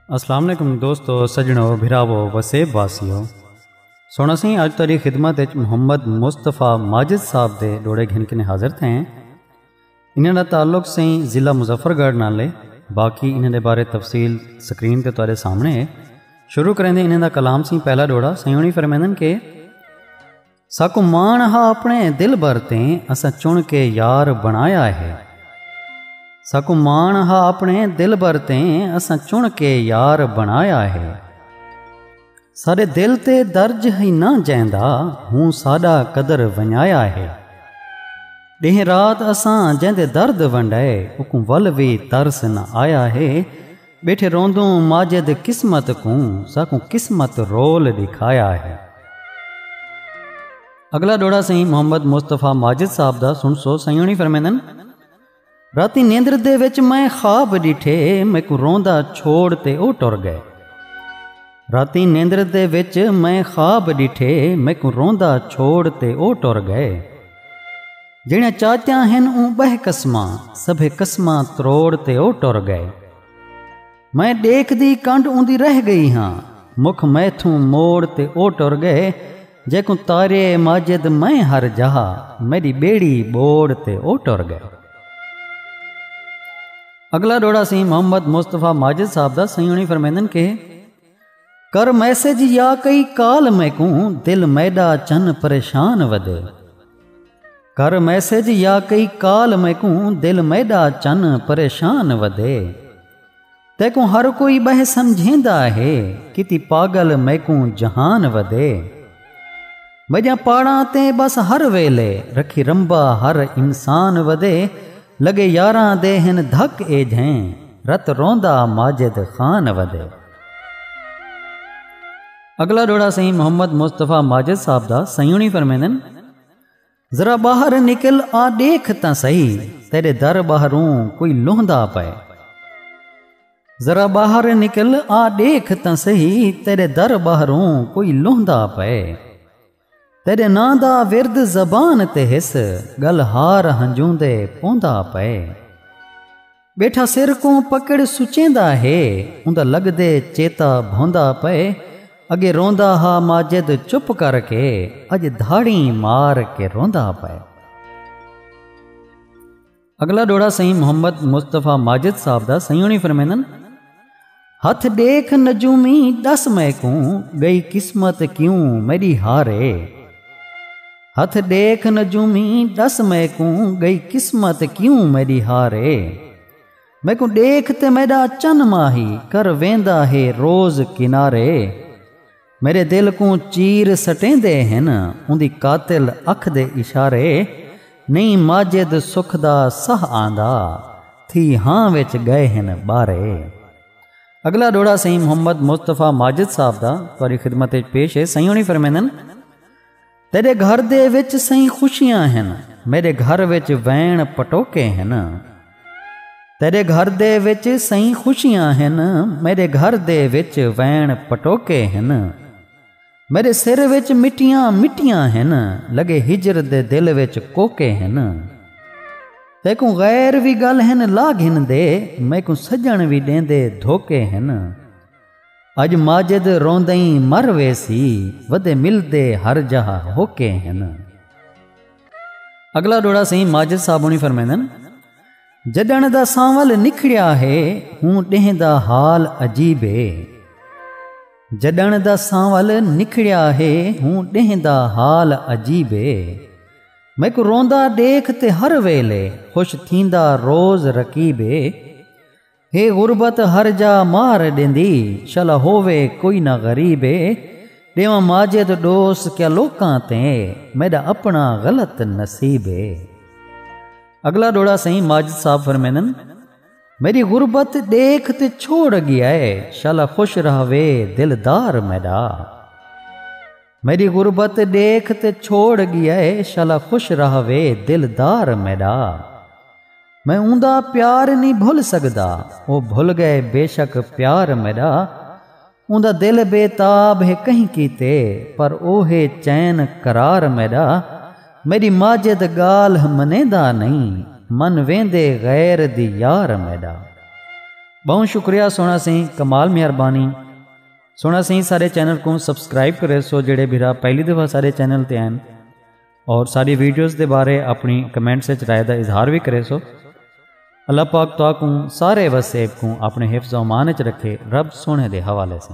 السلام علیکم دوستو سجنو بھراو وسیب واسیو سونا سی اج تاری خدمت محمد مصطفیٰ ماجد صاحب دے ڈوڑے گھن کنے حاضر تھے انہاں دا تعلق سائیں ضلع مظفر گڑھ نال ہے باقی انہاں دے بارے تفصیل سکرین تے تہاڈے سامنے ہے شروع کریندے انہاں دا کلام سائیں پہلا ڈوڑا سائیں فرمیندن کہ ساکو مان ہا اپنے دل بھر تے اساں چن کے یار بنایا ہے ساکو مان ہا اپنے دل بھر تے اساں چن کے یار بنایا ہے سارے دل تے درج ہی نہ جیندا ہوں ساڈا قدر ونجایا ہے ڈہ رات اساں جیندے درد ونڈائے اکوں ول وی ترس نہ آیا ہے بیٹھے روندوں ماجد قسمت کوں ساکوں قسمت رول دکھایا ہے اگلا ڈوڑا سائیں محمد مصطفی ماجد صاحب دا سن سو سائیں ہونی فرمیندن راتی نیندر دے وچ میں خواب ڈٹھے میکو روندا چھوڑ تے او ٹر گئے راتی نیندر دے وچ میں خواب ڈٹھے میکو روندا چھوڑ تے او ٹر گئے جڑیاں چاچیاں ہن اون بہ قسماں سبھے قسماں تروڑ تے او ٹر گئے میں ڈیکھ دی کنڈ اوندی رہ گئی ہاں مکھ میتھوں موڑ تے او ٹر گئے جیکوں تارے ماجد میں ہر جہا میری بیڑی بوڑ تے او ٹر گئے اگلا ڈوڑا سی محمد مصطفیٰ ماجد صاحب دا سیونی فرمیندن کہ کر میسج یا کئی کال میکوں دل میڈا چن پریشان ودے کر میسج یا کئی کال میکوں دل میڈا چن پریشان ودے تیکوں ہر کوئی بہ سمجھیندا ہے کتی پاگل میکوں جہان ودے وڄاں پاڑاں تے ٻس ہر ویلے، رکھی رمبا ہر انسان ودے لڳے یاراں دے ہن دھک اے جھیں، رت روندا ماجد خان ودے۔ اڳلا ݙوہڑا سئیں محمد مصطفی ماجد صاحب دا سئیݨی فرمیندن۔ ذرا ٻاہر نکل آ ݙیکھ تاں سہی، تیݙے در ٻاہروں کوئی لہندا پئے۔ ذرا باہر نکل آ ڈیکھ تاں سہی تیرے در باہروں کوئی لہندا پے تیرے نا دا ورد زبان تے ہس گل ہار ہنجوں دے پوندا پے بیٹھا سر کو پکڑ سچیندا ہے اوندا لگ دے چیتا بھوندا پے اگے روندا ہا ماجد چپ کر کے اج دھاڑی مار کے روندا پے اگلا ڈوڑا سائیں محمد مصطفی ماجد صاحب دا سائیں ہونی فرمیندن ہتھ دیکھ نجومی دس میں کوں گئی قسمت کیوں میری ہارے ہتھ دیکھ نجومی دس میں کوں گئی قسمت کیوں میری ہارے میں کو دیکھ تے میرا چن ماہی کر ویندا ہے روز کنارے میرے دل کوں چیر سٹیں دے ہن اوندی قاتل اکھ دے اشارے نہیں ماجد سکھ دا سہ آندا تھی ہاں وچ گئے ہن بارے اگلا ڈوڑا سہی محمد مصطفی ماجد صاحب دا تاری خدمت پیش ہے سہی ہونی فرمیندن تیڈے گھر دے وچ سئیں خوشیاں ہن میڈے گھر وچ وین پٹوکے ہن تیڈے گھر دے وچ سئیں خوشیاں ہن میڈے گھر دے وچ وین پٹوکے ہن میرے سر وچ مٹیاں مٹیاں ہن لگے ہجر دے دل وچ کوکے ہن تیکوں غیر وی گل ہن لا گھن دے میکوں سجن وی ڈیندے دھوکے ہن اڄ ماجد روندئیں مر ویسی ودے ملدے ہر جاہ ہوکے ہن۔ اگلا ڈوڑا سئیں ماجد صاحب ہونی فرمیندن جڈن دا سانول نکھڑیا ہے ہوں ڈہیں دا حال عجیب ہے جڈن دا سانول نکھڑیا ہے ہوں ڈہیں دا حال عجیب ہے میکو روندا دیکھ تے ہر ویلے خوش تھیندا روز رقیب ہے ہے غربت ہر جا مار ڈیندی شلا ہووے کوئی نہ غریب اے ڈیواں ماجد ڈوس کیا لوکاں تے میڈا اپنا غلط نصیب اے۔ اگلا ڈوڑا سئیں ماجد صاحب فرمیندن میڈی غربت ڈیکھ تے چھوڑ گیا اے شلا خوش رہوے دل دار میڈا۔ میݙی غربت ݙیکھ تے چھوڑ ڳیا ہے شالا خوش رہوے دلدار میݙا میں اوندا پیار نی بھل سڳدا او بھل ڳئے بیشک پیار میݙا اوندا دل بے تاب ہے کہیں کیتے پر او ہے چین قرار میݙا میݙی ماجد ڳالھ منیندا نہیں من ویندے غیر دی یار میݙا بہوں شکریہ سونا سیں کمال مہربانی سونا سی سارے چینل کو سبسکرائب کرے سو جڑے بھرا پہلی دفعہ سارے چینل تے آئیں اور ساری ویڈیوز دے بارے اپنی کمنٹ سے رائے دا اظہار بھی کرے سو اللہ پاک تو کو سارے وسیب کو اپنے حفظ و امان چ رکھے رب سونے دے حوالے سے